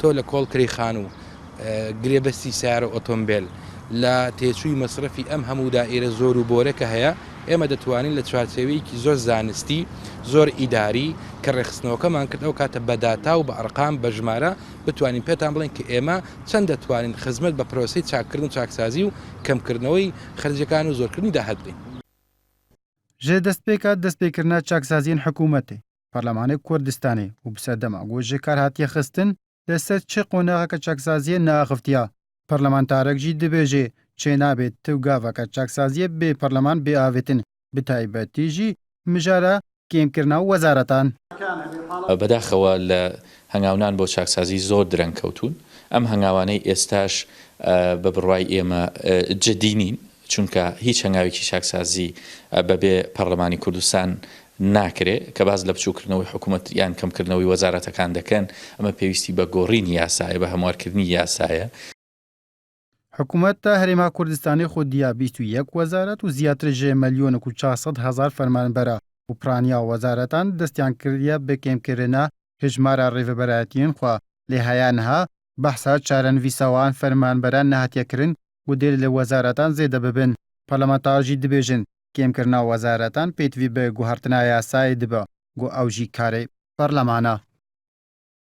تۆ لە کۆڵ کرێی خانوو، گرێبەستی سەیارە و ئۆتۆمبێل، لە تێچووی مەسرەفی ئەم هەموو دائیرە زۆر و بۆرە کە هەیە، ئێمە دەتوانین لە چوارچێوەیەکی زۆر زانستی، زۆر ئیداری، کە ڕێکخستنەوەکەمان کرد ئەو کاتە بە داتا و بە ئەرقام، بە ژمارە، بتوانین پێتان بڵێین کە ئێمە چەند دەتوانین خزمەت بە پرۆسەی چاککردن و چاکسازی و کەمکردنەوەی خەرجیەکان و زۆرکردنی داهات بین. ژێ دەستپێکە دەستپێکردنە چاکسازیەن حکوومەتێ پەرلەمانێ کوردستانێ و بسە دەماگۆژێ کار هاتیە خستن لە سەر چ قۆناغەکە چاکسازییە ناخفتیە، پەرلەمانتارەک ژی دبێژێ چێ نابێ ت و گاڤەکە چاکسازییە بێ پەرلەمان بێ ئاڤتن، بتایبەتی ژی مژارە کێم کرنا وەزارەتان. بەداخەوە لە هەنگاونان بۆ چاکسازی زۆر درەنگ کەوتوون، ئەم هەنگاوانەی ئێستاش بە بڕوای ئێمە جدی نین، چونکە هیچ هەنگاوێکی چاکسازی بەبێ پەرلەمانی کوردستان ناکرێ، کە باس لە بچووکردنەوەی حکومەت یان کەمکردنەوەی وەزارەتەکان دەکەن، ئەمە پێویستی بە گۆڕینی یاسایە، بە هەموارکردنی یاسایە. حکومەت تا هەرێما کوردستانێ خۆ دیا بیست و یەک وەزارەت و زیاتر ژێ مەلیۆنک و چار سەد هەزار فەرمانبەرە و پرانیا وەزارەتان دەستیان کردیە بە کەمکردنە هژمارە ڕێڤەبەرایەتیێن خوە لێ هایان ها بەحسە چارەنڤیسەوان فەرمانبەران نەهاتیە کرن مدیر لە وەزارەتان زێدە ببن، پەرلەمانتار ژی دبێژن کێم کرنا وەزارەتان پێتڤی بە گوهرتنا یاسایێ دبە گو ئەو ژی کارێ پەرلەمانە.